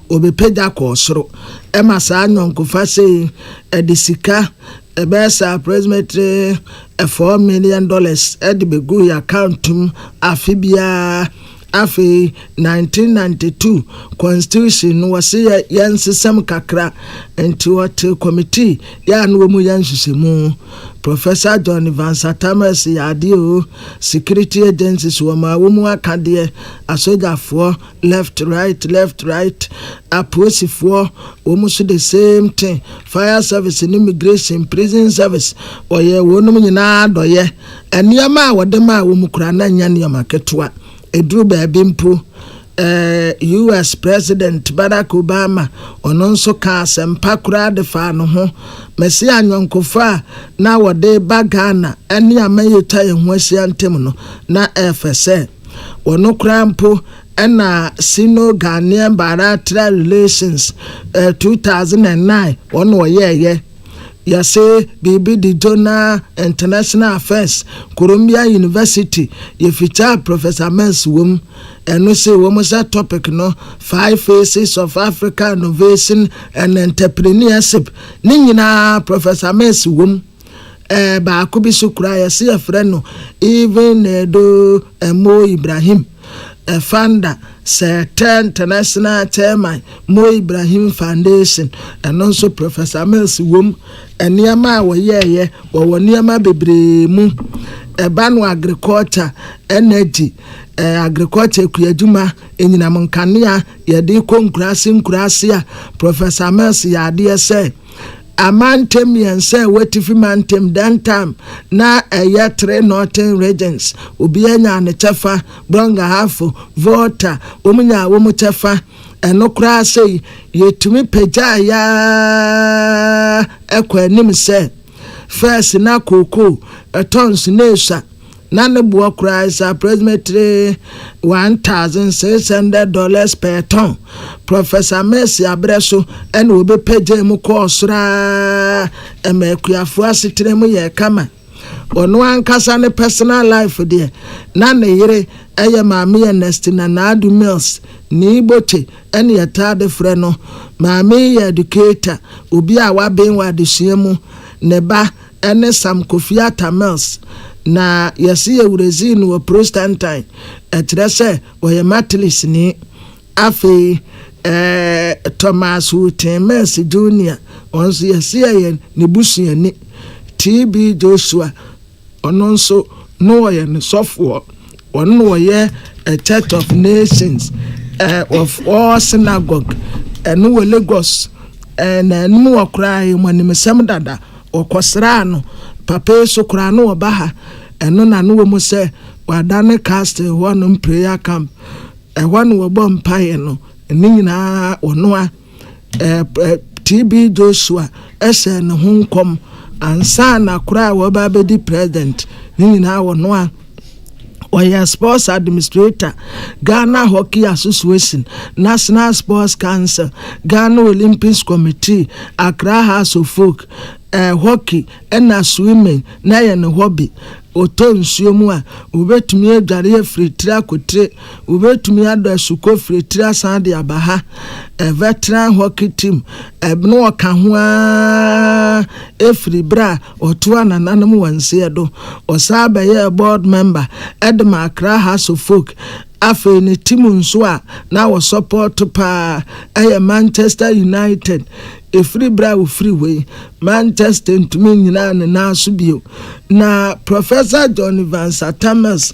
Wɔbɛpagya kɔɔ soro ma saa nyɔnkofa sei de sika ɛbɛyɛ sɛ approximately four million dollars de bɛguu yɛn account mu afe biara. Afei nineteen ninety two constitution no wɔse yɛ yɛnsesa mu kakra nti wɔtee committee yɛ a na wɔmu yɛ nhyehyɛmu. Professor John Vance Atamers yɛ adeɛ o, security agencies wɔmaa wɔmu akadeɛ, asogyafoɔ, Left right left right apolisifoɔ wɔn nso the same thing fire service ne immigration prison service wɔyɛ wɔnom nyinaa dɔyɛ nneɛma a wɔde maa wɔn koraa na nyɛ nneɛma ketewa ɛduru baabi mpo eh, US president Barack Obama ɔno nso ka asɛmpa koraa de faa no ho mɛse anyɔnkofa a na wɔde ba Ghana ne aman yi ta yɛn ho ahyia ntam no na ɛfɛ sɛ Wɔ no koraa mpo na Sino-Ghanaian Bilateral Relations 2009 wɔ na wɔyɛɛeɛ. Yɛse biribi de Jonah International Affairs, Columbia University, yɛfityaa Professor Mills wɔ mu. Ɛno see wɔ mu sɛ topic no Five Faces of African Innovation and Entrepreneurship, ne nyinaa Professor Mills wɔ mu. Eh, baako bi so koraa yɛse yɛfrɛ no Even Edo Mo Ibrahim eh, founder Sɛɛtɛ International Chairman Mo Ibrahim Foundation, ɛno nso Professor Mills wom. Nneɛma a wɔyɛeɛ, wɔwɔ nneɛma bebree mu. Ɛba no agriculture, energy, eh, agriculture kuadwuma, anyinam nkanea, yɛde kɔ nkuraase nkuraase a, Professor Mills yɛ adeɛ sɛ. Amantam mmiɛnsa a ɛwɔ Atifi Mantam, Dantam na ɛyɛ Tre Norten Regions, obiara nyaa ne kyɛfa, Brong-Ahafo, Volta, wɔn nyaa wɔn kyɛfa. Ɛno koraa sɛ yi, yɛtumi pagyaeɛ ara kɔ anim sɛ, Fɛs na Kookoo, Tɔns na Esua Na ne boɔ koraa is approximately one thousand six hundred dollars per ton. Professor Mercy aberɛ so na wɔbɛpagyaa mu kɔɔ soro ara ma akuafoɔ asetena mu yɛɛ kama. Ɔno ankasa ne personal life deɛ, na ne yere yɛ Maame Ernestina Naadu Mills, ne Iboche na yɛtaa de frɛ no. Maame yi yɛ educator, obi a waben wɔ adesua mu. Ne ba ne Sam Kofi Atta Mills, na wɔse wɔwurazii no wɔ Prostantan, ɛkyerɛ sɛ ɔyɛ Matlisni. Afei Thomas Wooten Mills Junior, ɔno nso wɔse ɔyɛ ne busuani. TB Joshua, ɔno nso na ɔyɛ ne sɔfoɔ. Wɔn na wɔyɛ ɛ Church of Nations ɛ wɔ foɔ synagogue ɛno wɔ Lagos ɛ na anim wɔ koraa yɛ mo animsɛm dada wɔ kɔ sraa no papa yi so koraa no wɔ ba ha ɛno na no wɔ mu sɛ wɔ ada ne castle hɔ nom prayer camp ɛhɔ no wɔ bɔ mpaeɛ no ne nyinaa wɔ noa. TB Joshua hyɛɛ no ho nkɔm ansaana koraa a wɔreba abɛdi president. Ne nyinaa wɔ no a ɔyɛ sports administrator, Ghana Hockey Association, National Sports Council, Ghana Olympics Committee, Accra House of Folk, eh, hockey ɛna swimming na yɛ ne hobby. Ɔtɔ nsuo mu a, ɔbɛtumi adware afiri tire akɔ tire. Wobɛtumi adɔ asukɔ firi tiri asan de aba ha, ɛvɛ tena hɔ kitim, ɛbno ɔka ho aa firi berɛ a ɔtoaa nananom wansie do. Ɔsaa bɛyɛɛ board member de ma Accra House of Folk. Afei ne tim nso a na wɔsɔpɔɔto paa yɛ Manchester United. Ɛfiri berɛ a ɔfiri hɔ yi, Manchester ntumi nnyinaa ne nan so bio. Na Professor John Evans Atta Mills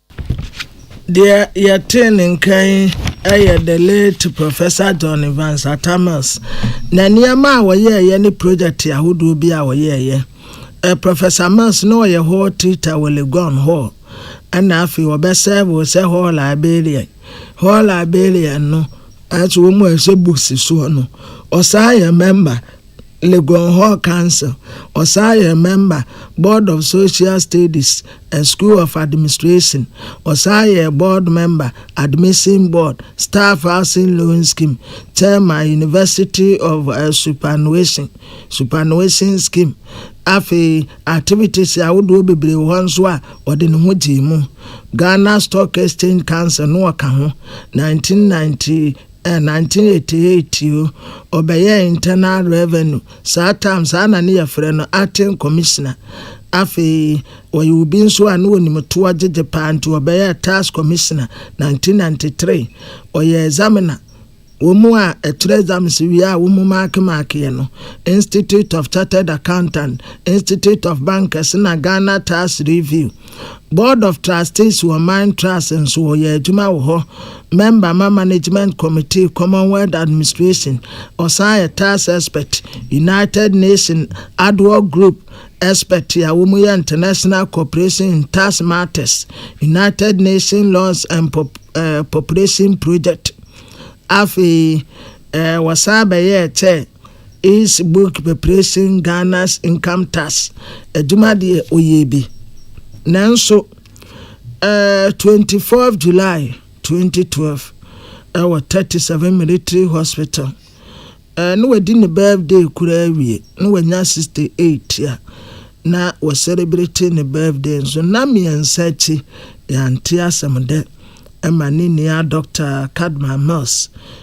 Deɛ yɛtee ne nka yi yɛ the late Professor John Evans Atta Mills, na nneɛma a wɔyɛeɛ ne project ahodoɔ bi a wɔyɛeɛ. Eh, Professor Mills na ɔyɛ hall tutor wɔ Legon Hall, ɛna afei wɔbɛsɛɛvoo sɛ hall librarian. Hall librarian no, nanso wɔn a ɛhyɛ books soɔ no, ɔsan yɛ member. Legon Hall Council, ɔsan yɛ mɛmba Board of Social Studies and School of Administration, ɔsan yɛ board mɛmba Admission Board, Staff Housing Loan Scheme Chairman University of Superannuation, Superannuation Scheme, afei activities ahodoɔ bebree wɔ hɔ nso a ɔde ne ho gyee mu. Ghana Stock Exchange Council no ɔka ho, 1998. In nineteen eighty eight o, ɔbɛyɛɛ Internal Revenue, saa tam, saa na ne yɛfrɛ no Acting Commissioner. Afei ɔyɛ obi nso a na ɔnim toɔ gyegye paa nti ɔbɛyɛɛ Tax Commissioner nineteen ninety three. Ɔyɛ Examiner, wɔn a ɛkyerɛ exams wie a wɔn maake maakeɛ no, Institute of Chartered Accountant, Institute of Bankers na Ghana Tax Review. Board of Trustees wɔ Mind Trust nso wɔyɛ adwuma wɔ hɔ, mɛmba ma Management Committee, Commonwealth Administration, ɔsan yɛ Tax Expert, United Nation Ad Hoc Group Expert a wɔyɛ International Cooperation in Tax Matters, United Nation Laws and Population Project. Afei wɔsan bɛyɛɛ kyɛ. His book preparation Ghana's income tax adwuma deɛ ɔyɛɛ bi nanso ɛɛ 24 July 2012 ɛwɔ 37 military hospital ɛɛ na wadi ne birthday koraa awie na wanya 68 a na wɔ celebrate ne birthday nso nna mmiɛnsa akyi yɛante asɛm dɛ ɛma ne nua Doctor Kadma Mills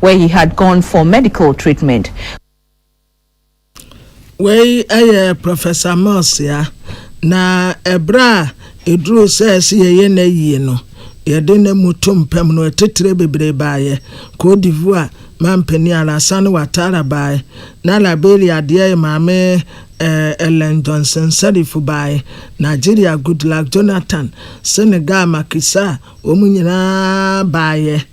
where he had gone for medical treatment. Wei yɛ Professor Mills ya, na ɛberɛ a ɛduruu sɛ ɛsɛ yɛyɛ n'ayie no, yɛde ne moto mpam no atitire bebree baeɛ, Côte d'Ivoire mampanin Alassane Ouattara baeɛ, na Liberia adeɛyɛ maame eh, Ellen Johnson Sirleaf baeɛ, Nigeria Goodluck Jonathan, Senegal Macky Sall, wɔn nyinaa baeɛ.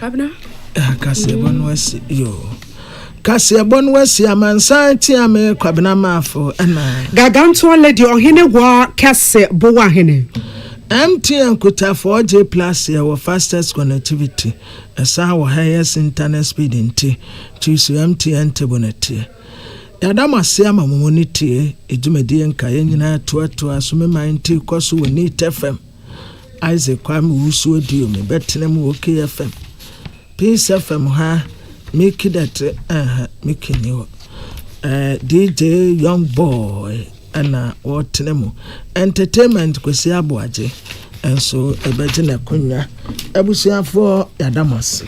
Abena. Ah, kaseɛbɔ no asi yo kaseɛbɔ no asi amansan tia me kwabena maafo ɛna gagantoɔ lady ɔhene wɔ kɛse bowa hene mtn kutafoɔ gye plus yɛ wɔ fastest connectivity ɛsan wɔ highest internet speed nti choose mtn table no teɛ yɛada mo ase ama mo mu no tie ɛdwumadie nka yɛn nyinaa toatoa so me man ti kɔ so wɔ neat fm Isaac Kwame Owusu Audio no bɛtena mu wɔ KFM, Peace FM ha, Mickey Dɛte, ɛh, Mickey ni hɔ, eh, DJ Young Boy ɛna wɔtena mu, Entertainment Kwesi Aboagye nso ɛbɛgye n'akonwa. Abusuafoɔ yɛada mo ase.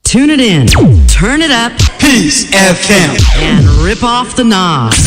Tune it in, turn it up, Peace FM, and rip off the knobs.